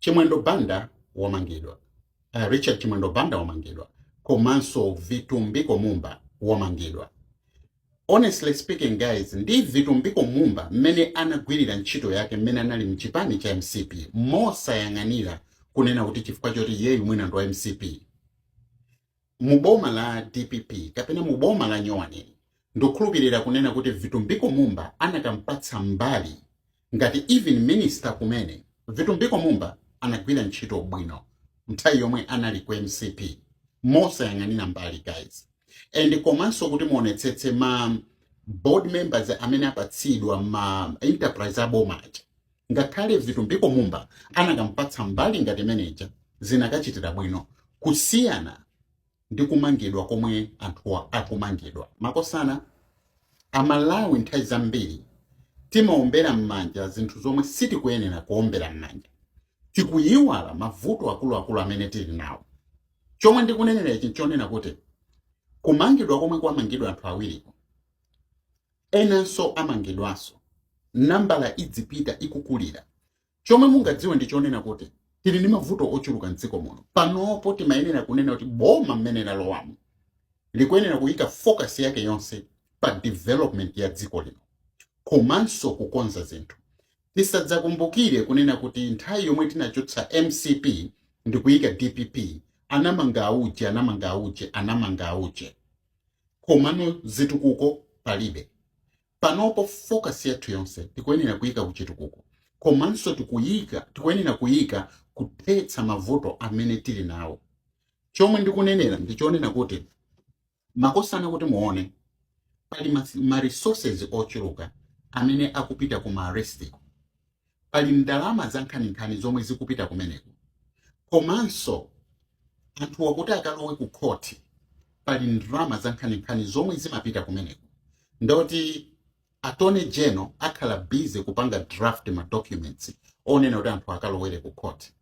Chimwendo Banda wamangidwa. Uh, Richard Chimwendo Banda wamangidwa komanso Vitumbiko Mumba wamangidwa. Honestly speaking guys, ndi Vitumbiko Mumba mmene anagwirira ntchito yake mmene anali mchipani cha MCP mosayang'anira kunena kuti chifukwa choti iyeyu mwina ndi wa MCP. mu boma la dpp kapena mu boma la nyowani ndikukhulupirira kunena kuti vitumbiko mumba anakamupatsa mbali ngati even minister kumene vitumbiko mumba anagwira ntchito bwino nthawi yomwe anali ku mcp mosayang'anira mbali guys and komanso kuti muonetsetse ma board members amene apatsidwa ma enterprise aboma aja Ngakhale Vitumbiko Mumba anakamupatsa mbali ngati imene ija zinakachitira bwino kusiyana ndi kumangidwa komwe anthuwa akumangidwa. Makosana, a Malawi nthawi zambiri timaombera mmanja zinthu zomwe sitikuyenera kuombera mmanja. Tikuyiwala mavuto akuluakulu amene tili nawo. Chomwe ndikunenera ichi nchonena kuti kumangidwa komwe kwamangidwa anthu awiriku Enanso amangidwanso. Nambala idzipita ikukulira. Chomwe mungadziwe ndi chonena kuti tili ndi mavuto ochuluka m'dziko muno. Panopo timayenera kunena kuti boma mmene lalowamu likuyenera kuyika focus yake yonse pa development ya dziko lino komanso kukonza zinthu. Tisadzakumbukire kunena kuti nthawi yomwe tinachotsa mcp ndikuyika dpp anamanga auje, anamanga auje, anamanga auje. komano zitukuko palibe. Panopo focus yathu yonse tikuyenera kuika kuchitukuko komanso tikuika tikuyenera kuika kuthetsa mavuto amene tili nawo. Chomwe ndikunenera ndichonena kuti makosana kuti muone pali ma, ma resources ochuluka amene akupita ku ma arrest Pali ndalama zankhaninkhani zomwe zikupita kumeneko. Komanso anthuwa kuti akalowe kukhoti, pali ndalama zankhaninkhani zomwe zimapita kumeneko. Ndiye kuti attorney general akhala busy kupanga draft ma documents onena kuti anthu akalowere kukhoti.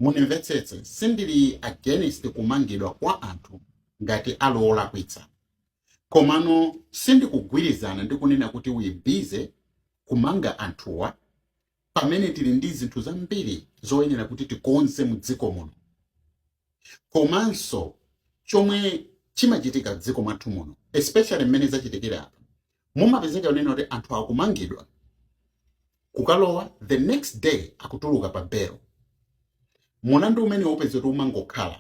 Mundimvetsetse, sindili against kumangidwa kwa anthu ngati ali olakwitsa komano sindikugwirizana ndi kunena kuti uyike busy kumanga anthuwa pamene tili ndi zinthu zambiri zoyenera kuti tikonze mu dziko muno komanso chomwe chimachitika m'dziko mwathu muno especially mmene zachitikira apa mumapezeka yonena kuti anthu akumangidwa kukalowa the next day akutuluka pa belo mulandu umene upeze kuti umangokhala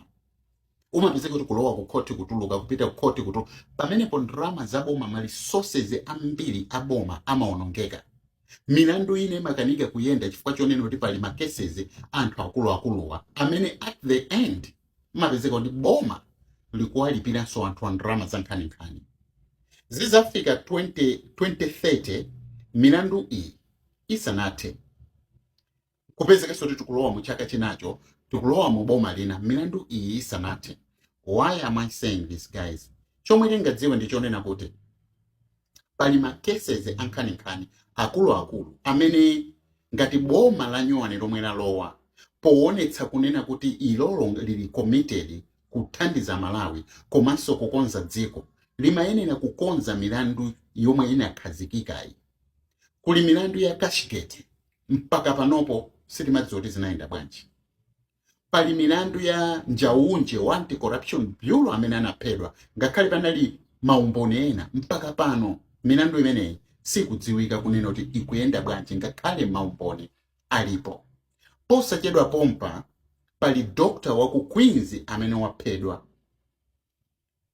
umapezeka kuti kulowa ku khoti kutuluka kupita ku khoti kutu pamenepo ndalama za boma ma resources ambiri a boma amaonongeka milandu ina imakanika kuyenda chifukwa chonena kuti pali ma cases a anthu akuluakuluwa amene at the end Mmapezeka kuti boma likuwalipiranso anthuwa ndalama zankhaninkhani. Zidzafika 20 2030 milandu iyi isanathe, nkupezekanso kuti tikulowa mu chaka chinacho, tikulowa mu boma lina milandu iyi isanathe. Why am I saying this guys? Chomwe tingadziwe ndi chonena kuti pali ma cases ankhaninkhani akuluakulu amene ngati boma la nyuwani lomwe lalowa poonetsa kunena kuti ilolo lili committed kuthandiza amalawi komanso kukonza dziko limayenera kukonza milandu yomwe inakhazikikayi kuli milandu ya cashgate mpaka panopo sitimadziwa kuti zinayenda bwanji pali milandu ya njauju wa anti-corruption bureau amene anaphedwa ngakhale panali maumboni ena mpaka pano milandu imeneyi sikudziwika kunena kuti ikuyenda bwanji ngakhale maumboni alipo posachedwa pompa pali dokotala wa ku queens amene waphedwa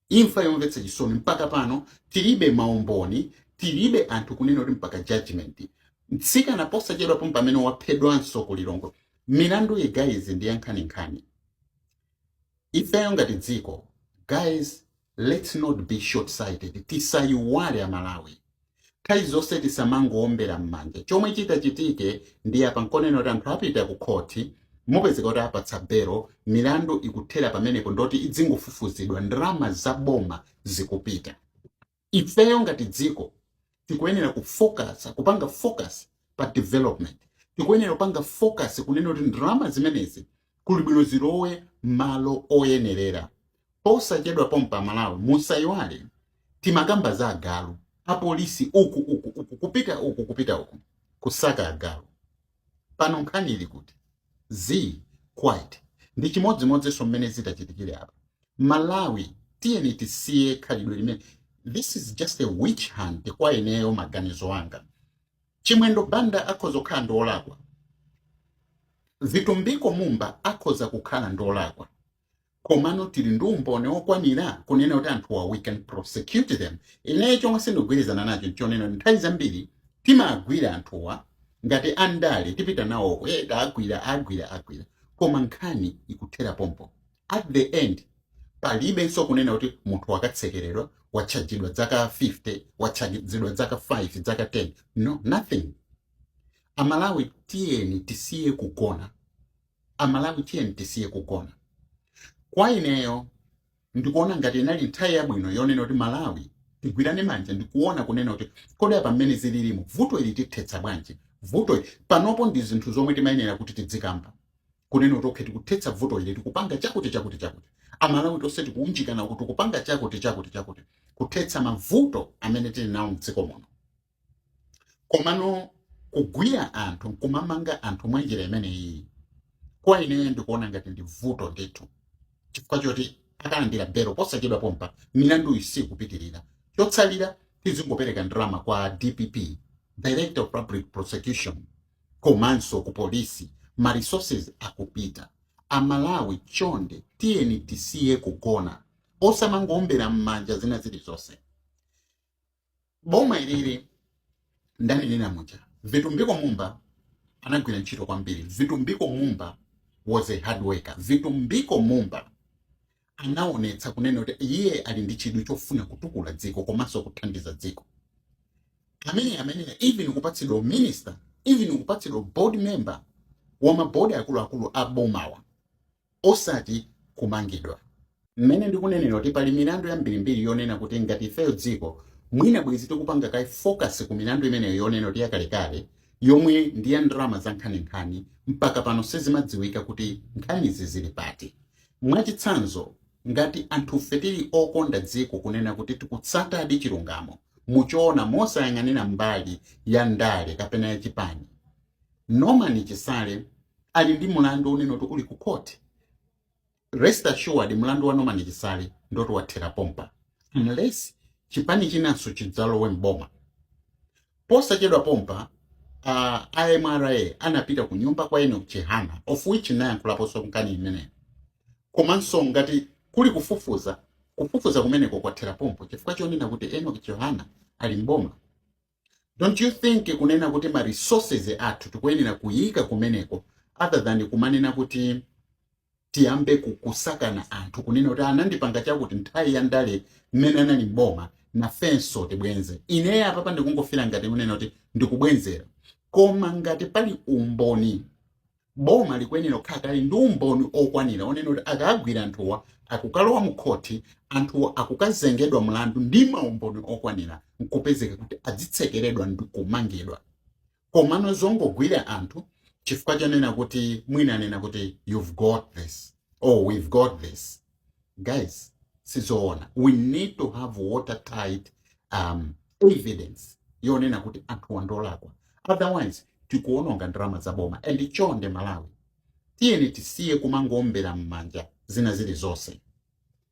Imfa yomvetsa chisoni mpaka pano tilibe maumboni tilibe anthu kunena kuti mpaka judgment. Mtsikana posachedwa pompa amene waphedwanso ku Lilongwe. Milandu iyi guys ndi yankhaninkhani. Ifeyo ngati dziko guys let's not be short sighted tisayiwale a Malawi. Nthawi zonse tisamangoombera mmanja. Chomwe chitachitike ndiye apa nchonena kuti anthu apita ku khoti, mupezeka kuti awapatsa belo, milandu ikuthera pamenepo ndoti idzingofufuzidwa, ndalama za boma zikupita. Ifeyo ngati dziko tikuyenera kufokasa, kupanga focus pa development. Tikuyenera kupanga focus kunena kuti ndalama zimenezi kuli bwino zilowe mmalo oyenerera posachedwa pompa amalawi musaiwale timakamba za agalu apolisi uku uku uku kupita uku kupita uku kusaka agalu pano nkhani ili kuti zii quiet ndi chimodzimodzinso mmene zitachitikire apa malawi tiyeni tisiye khalidwe limeneli this is just a witch hunt kwa ineyo maganizo anga Chimwendo Banda akhoza kukhala kuti ndi olakwa, Vitumbiko Mumba akhoza kukhala kuti ndi olakwa, komano tili ndi umboni okwanira kunena kuti anthuwa we can prosecute them. Ineyo chomwe sindikugwirizana nacho nchonena kuti nthawi zambiri timagwira anthuwa ngati andale tipita nawo uko, eh, tawagwira, awagwira, awagwira, koma nkhani ikuthera pompo. At the end palibenso kunena kuti munthu wakatsekeredwa, watchajidwa dzaka 50, watchajidwa dzaka 5, dzaka 10, no nothing. A Malawi tiyeni tisiye kugona, a Malawi tiyeni tisiye kugona. Kwa ineyo ndikuona ngati inali nthawi yabwino yonena kuti Malawi tigwirane manja ndikuona kunena kuti kodi apa mmene zililimu vuto ili tithetsa bwanji vuto ili. Panopo ndi zinthu zomwe timayenera kuti tidzikamba. kunena kuti okay tikuthetsa vuto ili tikupanga chakuti chakuti chakuti amalawi tonse tikuunjikana kuti tikupanga chakuti chakuti chakuti kuthetsa mavuto amene tili nawo mdziko muno komano kugwira anthu nkumamanga anthu mwa njira imeneyi kwa ineyo ndikuona ngati ndi vuto ndithu chifukwa choti akalandira belo posachedwa pompa milandu iyi isikupitirira chotsalira tizingopereka ndalama kwa dpp director of public prosecution komanso ku police ma resources akupita. A Malawi chonde tiyeni tisiye kugona osamangoombera mmanja zina zilizonse. Boma ilili ndanena muja Vitumbiko Mumba anagwira ntchito kwambiri. Vitumbiko Mumba was a hard worker. Vitumbiko Mumba anaonetsa kunena kuti iye ali ndi chidwi chofuna kutukula dziko komanso kuthandiza dziko amene amayenera even kupatsidwa minister even kupatsidwa board member wa mabodi akuluakulu a bomawa osati kumangidwa mmene ndikunenera kuti pali milandu yambirimbiri yonena kuti ngati ifeyo dziko mwina bwezi tikupanga kaye focus ku milandu imeneyo yonena kuti yakalekale yomwe ndi ya ndalama za nkhaninkhani mpaka pano sizimadziwika kuti nkhanizi zili pati Mwachitsanzo, ngati anthufe tili okonda dziko kunena kuti tikutsatadi chilungamo mu choona mosayang'anira mbali ya ndale kapena ya chipani, Norman Chisale ali ndi mlandu wonena kuti uli ku court. Rest assured mlandu wa Norman Chisale ndiwoti wathera pompa unless chipani chinanso chidzalowe m'boma. Posachedwa pompa, a MRA anapita ku nyumba kwa Enoch Chihana of which nayankhulaponso nkhani imeneyo. Komanso ngati kuli kufufuza, kufufuza kumeneko kwathera pompo chifukwa chonena kuti Enoch Chihana ali m'boma. Don't you think kunena kuti ma resources athu tikuyenera kuyika kumeneko other than kumanena kuti tiyambe ku, kusakana anthu kunena kuti anandipanga chakuti nthawi ya ndale mmene anali m'boma nafenso tibwenze. Ineyo apapa ndikungofila ngati kunena kuti ndikubwenzera, koma ngati pali umboni boma likuyenera kukhala kale ndi umboni okwanira onena kuti akagwira anthuwa akukalowa mu khoti anthuwa akukazengedwa mlandu ndi maumboni okwanira nkupezeka kuti adzitsekeredwa ndi kumangidwa. komano zongogwira anthu chifukwa chonena kuti mwina anena kuti you've got this or we've got this guys sizoona we need to have watertight um, evidence yonena kuti anthuwa ndolakwa otherwise tikuononga ndalama za boma and chonde malawi tiyeni tisiye kumangombera m'manja zina zilizonse